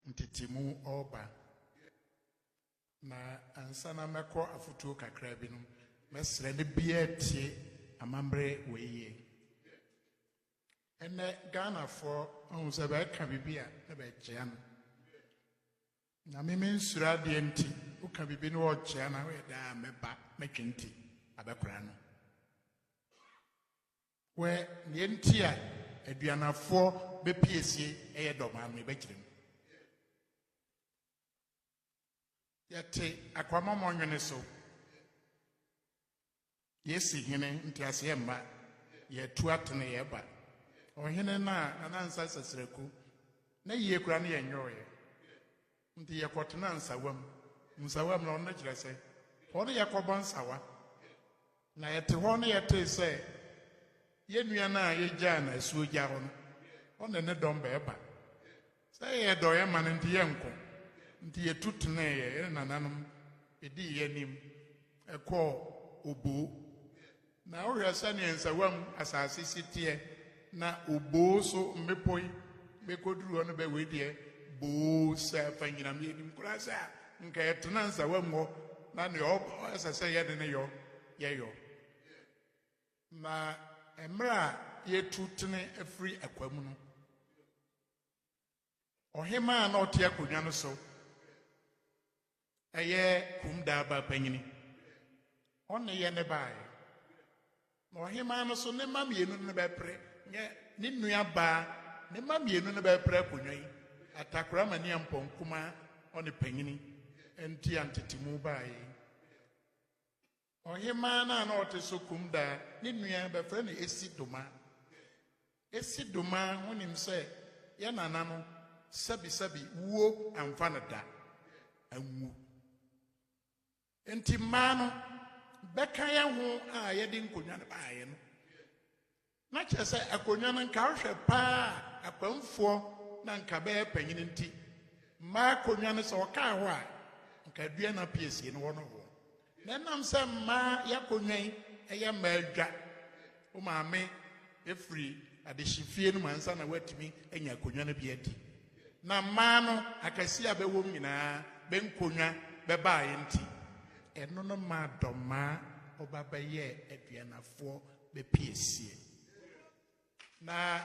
Ntetemu ɔɔba na ansa na mɛkɔ afotuo kakra bi no mɛsrɛ ne bia atie amambrɛ wei yie. Ɛnɛ Ghana foɔ ahu sɛ bɛɛka bibi a na bɛɛkyea no. Nyame me nsuro adeɛ nti woka bibi na wɔɔkyea na woyɛ dɛn a mɛba mɛtwe nti abɛkora no. Wɛ neɛ nti a aduanafoɔ bɛ piesie yɛ dɔm a me bɛ kyerɛ mu. Yɛ te akwamamɔ nwene so. Yɛ si hene nteaseɛ mma. Yɛ tu atene yɛ ba. Ɔhene na nana nsa sasiraku. Na yie kura ne yɛ nyɔɔ yɛ. Nti yɛkɔtenaa nsawam. Nsawam no, no kyerɛ sɛ, hɔ no yɛkɔbɔ nsawa. Na yɛte hɔ na yɛtee sɛ yɛn nua no a yegyaa no asuogya hɔ no, ɔne ne dɔm bɛɛba. Sɛ yɛyɛ dɔeɛ ma no nti yɛnko. Nti yɛtu teneeɛ, yɛne nananom dii yɛn anim kɔɔ oboo Na wohwɛ sɛnea nsawam asase si teɛ, na oboo so mmepɔ yi bɛkɔduru hɔ no bɛ, wei deɛ boo sɛ afa nyinam. Yɛnim koraa sɛ a nka ɛtena nsawam hɔ, na nea ɛsɛ sɛ yɛde no yɔ, yɛyɔ. Na mmerɛ a yɛtu tene firi akwam no, Ɔhemmaa a na ɔte akonnwa no so yɛ kum daaba panyini. Ɔne yɛ ne baeɛ. Na ɔhemmaa no so ne mma mmienu no bɛpere nyɛ ne nua baa ne mma mmienu no bɛpere akonnwa yi atakora ma nia mpɔn kumaa ɔne panyini nti a ntetemu baeɛ. Ɔhemaa no a na ɔte so Kumdaa ne nua bɛfrɛ no Esi Doma. Esi Doma ho nim sɛ yɛ nana no sɛbisɛbi wuo amfa no da anwu. Nti mmaa no bɛka yɛ ho a yɛde nkonnwa no baeɛ no. Na kyerɛ sɛ akonnwa no nka wohwɛ paa a akwamfoɔ na nka bɛyɛ panyin nti mmaa akonnwa no sɛ wɔkaa hɔ a nka aduana pii asie no hɔ no hoɔ na ɛnam sɛ mmaa y'akonnwa yi ɛyɛ mmaa adwa wo maame ɛfiri adehyefie no mu ansa na woatumi anya akonnwa no bi adi na mmaa no akɛseɛ a bɛwɔ m nyinaa bɛnkonnwa bɛbaeɛ nti ɛno no maa dɔmmaa ɔba bɛyɛɛ aduanafoɔ bɛpie sie. Na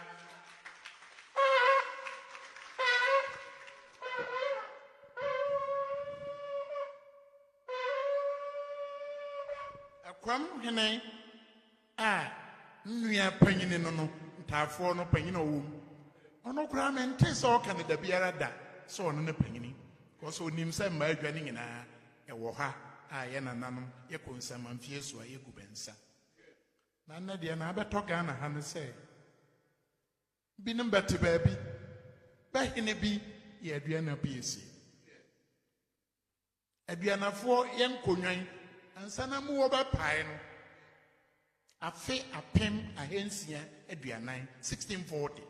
ɛkwam hene a nnua panyini no no ntaafoɔ no panyini a ɔwɔ mu ɔno koraa mente sɛ ɔka no da biara da sɛ ɔno ne panyini kɔsɛ ɔnim sɛ mmaa adwa no nyinaa ɛwɔ ha a yɛ nananom yɛkɔ nsɛmamfie so a yɛgu bɛnsa na nnɛ deɛ na abɛtɔ ghana ha no sɛ binom bɛte baabi bɛhene bi yɛ aduana bi ɛsie aduanafoɔ yɛ nkonnwan ansa na mu wɔbɛpae no afe apem ahansia aduanan 1640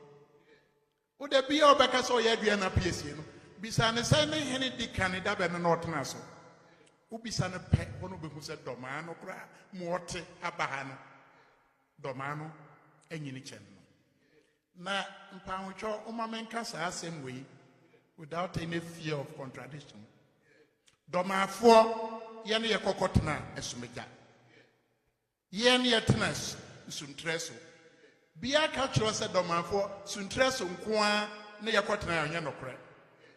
Wo da biara a ɔbɛka sɛ ɔyɛ aduan na api asie no, bisa no sɛ ne hene di kan da bɛn na ɔtena so. Wobisa no pɛ, hɔ na obehu sɛ dɔmaa no koraa mu ɔte aba ha no, dɔmaa no anyini kyɛn no. Na mpaawotwɔ, momma menka saa asɛm wei without any fear of contradiction. Dɔmaafoɔ, yɛne yɛkɔkɔtena asumagya. Yɛn yɛtena suntrɛ so. Bia ka kyerɛ sɛ dɔmafoɔ suntrɛ so nko ara ne yɛkɔtena ɛnyɛ nokorɛ.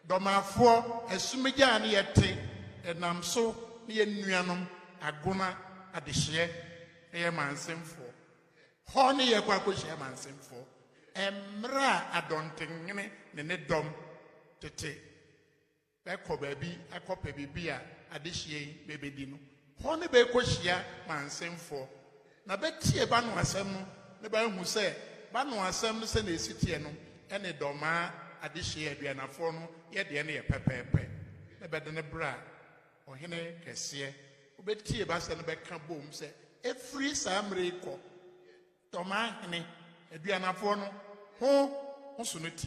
Dɔmafoɔ asumigyaa ne yɛte ɛnam so ne yɛn nuanom Agona adehyeɛ ɛyɛ Mansemfoɔ. Hɔ ne yɛkɔ akɔhyia Mansemfoɔ ɛmmerɛ a Adɔntenhene ne ne dɔm tete. Bɛkɔ baabi akɔpɛ biribi a adehyeɛ yi bɛbɛdi no. Hɔ ne bɛrekɔhyia mansenfoɔ, na bɛtie banoasɛm no na bɛahu sɛ banoasɛm no sɛdeɛ ɛsi teɛ no ne dɔmaa adehyeɛ aduanafoɔ no yɛ deɛ no yɛ pɛpɛɛpɛ, na bɛde no bra ɔhene kɛseɛ. Wobɛtie bɛasɛm no bɛka bom sɛ, Ɛfiri saa mmerɛ yi kɔ, dɔmaa hene, aduanafoɔ no, ho ho so no ti.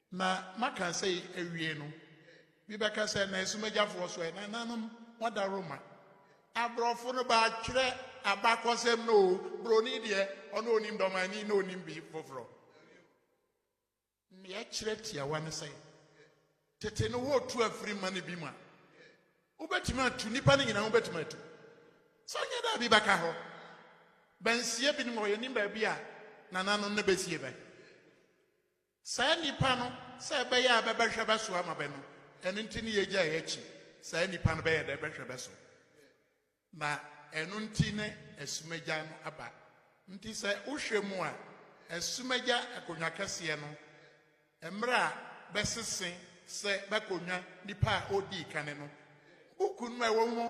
Na maka sei awie no, bi bɛka sɛ, Na asumagyafɔɔ so ɛ? Nananom wɔda Roma. Abrɔfo no bɛatwerɛ abakɔsɛm no o, broni deɛ ɔno ɔnim dɔmani na ɔnim bi foforɔ. Neɛ ɛkyerɛ tiawa ne sɛ, tete no wɔtu afiri ma no bi mu a, wobɛtumi atu, nnipa no nyinaa wobɛtumi atu. Sɛ ɔnyɛ dɛ a bi bɛka hɔ. Bɛnsie binom hɔ, yɛnim baabi a nananom no bɛsie bɛ. Saa nnipa no, sɛ ɛbɛyɛ a bɛbɛhwɛ bɛ so ama bɛ no, ɛno nti ne yɛgyae akyi. Saa nnipa no bɛyɛ dɛ bɛhwɛ bɛ so, na ɛno nti ne asumagyai no aba. Nti sɛ wohwɛ mu a, asumagyai akonnwa kɛseɛ no, mmerɛ a bɛsese sɛ bɛkonnwa nipa a odii kane no, buku no a ɛwɔ mu,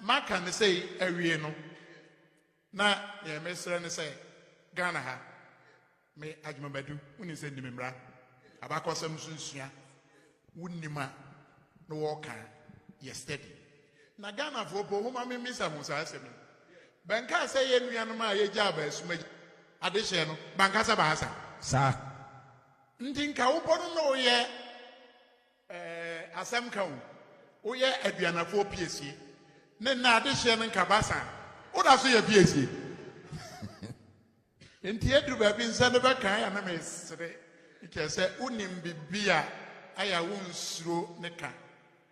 Maka no sei awie no, na neɛ mesrɛ ne sɛ Ghana ha, me Agyemang Badu, wonim sɛ nnim mmara, abakɔsɛm nso nsua, wonim a na wɔka yɛ study. Na Ghanafoɔ po homa me mmisa ho saa asɛm yi. Bɛnkaa sɛ yɛ nuanom a yɛgyaa baa sum agya adehyeɛ no, bankasa baasa. Saa. Nti nka wopɔ no na woyɛ. Ɛɛ, asɛm ka o. Woyɛ aduanafoɔ piesie. Ne nnɛ adehyeɛ no nka basa a, woda so yɛ piesie. Enti aduru baabi nsɛm no bɛka ayɛ a na mesere. Kyerɛ sɛ wonim biribi a ayɛ a wonsuro ne ka.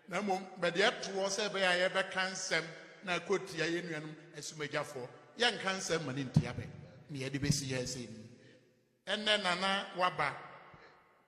Na mmom bɛde ɛtoɔ sɛ ɛbɛyɛ a yɛbɛka nsɛm na akɔtia yɛn nuanom asumagyafoɔ. Yɛnka nsɛm ma no ntia bɛ. Nea ɛde bɛsi yɛn sɛ ni. Ɛnnɛ Nana waba.